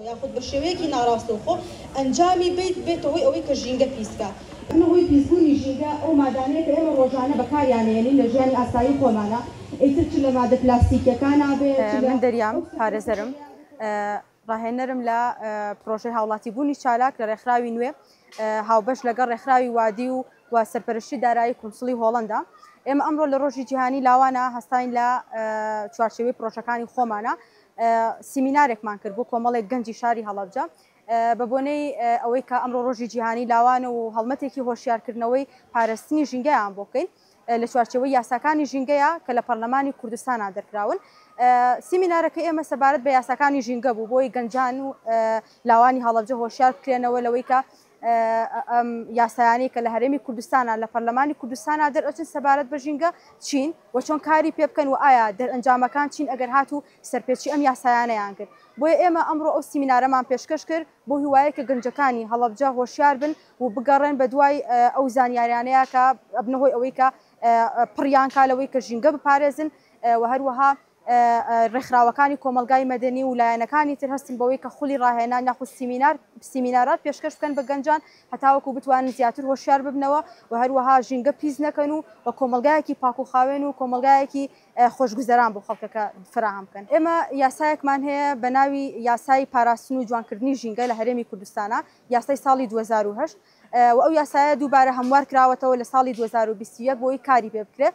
یاخود بە شێوەیەکی ناڕاستەوخۆ ئەنجامی بیت بێتە هۆی ئەوەی کە ژینگە پیس کات. ئەمە هۆی پیس بوونی ژینگە ئەو مادانەیە کە ئێمە ڕۆژانە بەکاریان ئەیەنین لە ژیانی ئاسایی خۆمانا ئیتر چ لە مادە پلاستیکیەکانا بێت چ من لە دەریام پارێزەرم ڕاهێنەرم لە پڕۆژەی هاوڵاتی بوونی چالاک لە ڕێکخراوی نوێ هاوبەش لەگەڵ ڕێکخراوی وادی و و سەرپەرشتی دارایی کونسڵی هۆڵەندا ئێمە ئەمڕۆ لە ڕۆژی جیهانی لاوانە هەستاین لە چوارچێوەی پڕۆژەکانی خۆمانە سیمینارێکمان کرد بۆ کۆمەڵێک گەنجی شاری هەڵەبجە بە بۆنەی ئەوەی کە ئەمڕۆ ڕۆژی جیهانی لاوانە و هەڵمەتێکی هۆشیارکردنەوەی پارستنی ژینگەیان بۆ بکەین لە چوارچەوەی یاساکانی ژینگەیە کە لە پەرلەمانی کوردستانان دەرکراون سیمینارەکە ئێمە سەبارەت بە یاساکانی ژینگە بوو بۆی گەنجان و لاوانی هەڵەبجە هۆشیار بکرێنەوە لەوەی کە ئەم یاسایانەی کە لە هەرێمی کوردستانا لە پەرلەمانی کوردستانا دەرئەچن سەبارەت بە ژینگە چین و چۆن کاری پێ بکەن و ئایا دەرئەنجامەکان چین ئەگەر هات و سەرپێچی ئەم یاسایانەیان کرد. بۆیە ئێمە ئەمڕۆ ئەو سیمینارەمان پێشکەش کرد بۆ هیوایەی کە گەنجەکانی هەڵەبجە هۆشیار بن و بگەڕێن بە دوای ئەو زانیاریانەیە کە ئەبنە هۆی ئەوەی کە پڕیان کا لەوەی کە ژینگە بپارێزن و هەروەها ڕێکخراوەکانی کۆمەڵگای مەدەنی و لایەنەکانی تر هەستن بەوەی کە خولی ڕاهێنان یاخود سیمینار سیمینارات پێشکەش بکەن بە گەنجان هەتاوەکو بتوانن زیاتر هۆشیار ببنەوە و هەروەها ژینگە پیس نەکەن و و کۆمەڵگایەکی پاک و خاوێن و کۆمەڵگایەکی خۆشگوزەران بۆ خەڵکەکە فراهەم بکەن. ئێمە یاسایەکمان هەیە بە ناوی یاسای پاراستن و جوانکردنی ژینگە لە هەرێمی کوردستانا یاسای ساڵی دوو هەزار و هەشت و ئەو یاسایە دووبارە هەموار کراوەتەوە لە ساڵی دوو هەزار و بیست و یەک بۆی کاری پێ بکرێ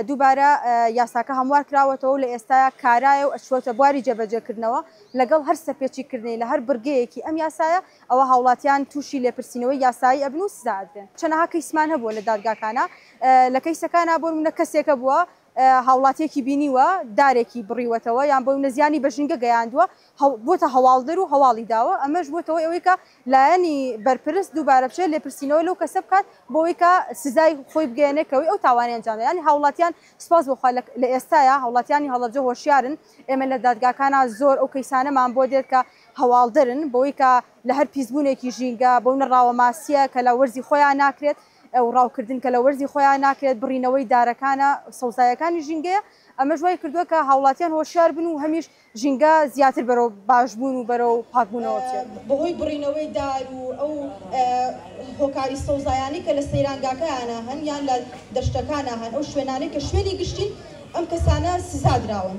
دووبارە یاساکە هەموار کراوەتەوە و لە ئێستایا کارایە و ئەچووەتە بواری جێبەجێکردنەوە لەگەڵ هەر سەرپێچیکردنی لە هەر بڕگەیەکی ئەم یاسایە ئەوا هاوڵاتیان تووشی لێپرسینەوەی یاسایی ئەبن و سزا ئەدرێن چەنەها کەیسمان هەبووە لە دادگاکانا لە کەیسەکانا بۆنموونە کەسێک هەبووە هاوڵاتیەکی بینیوە دارێکی بڕیوەتەوە یان بۆنە زیانی بە ژینگە گەیاندووە بۆتە هەواڵدەر و هەواڵی داوە ئەمەش بۆتە هۆی ئەوەی کە لایەنی بەرپرس دووبارە بچێت لێپرسینەوە لەو کەسە بکات بۆ ئەوەی کە سزای خۆی بگەیەنێت کە هۆی ئەو تاوانەی ئەنجام دا یانی هاوڵاتیان سوپاس بۆ خوا لە ئێستایا هاوڵاتیانی هەڵەبجە هۆشیارن ئێمە لە دادگاکانا زۆر ئەو کەیسانەمان بۆ دێت کە هەواڵدەرن بۆ ئەوەی کە لە هەر پیسبوونێکی ژینگە بۆنە ڕاوە ماسیە کە لە وەرزی خۆیان ناکرێت و ڕاوکردن کە لە وەرزی خۆیان ناکرێت، بڕینەوەی دارەکانە سەوزایەکانی ژینگەیە، ئەمەش وای کردووە کە هاوڵاتیان هۆشیار بن و هەمیش ژینگە زیاتر بەرەو باشبوون و بەرەو پاکبوونەوە بچێت. بەهۆی بڕینەوەی دار و ئەو هۆکاری سەوزایانەی کە لە سەیرانگاکایانە هەن یان لە دەشتەکانە هەن، ئەو شوێنانەی کە شوێنی گشتین ئەم کەسانە سزادراون.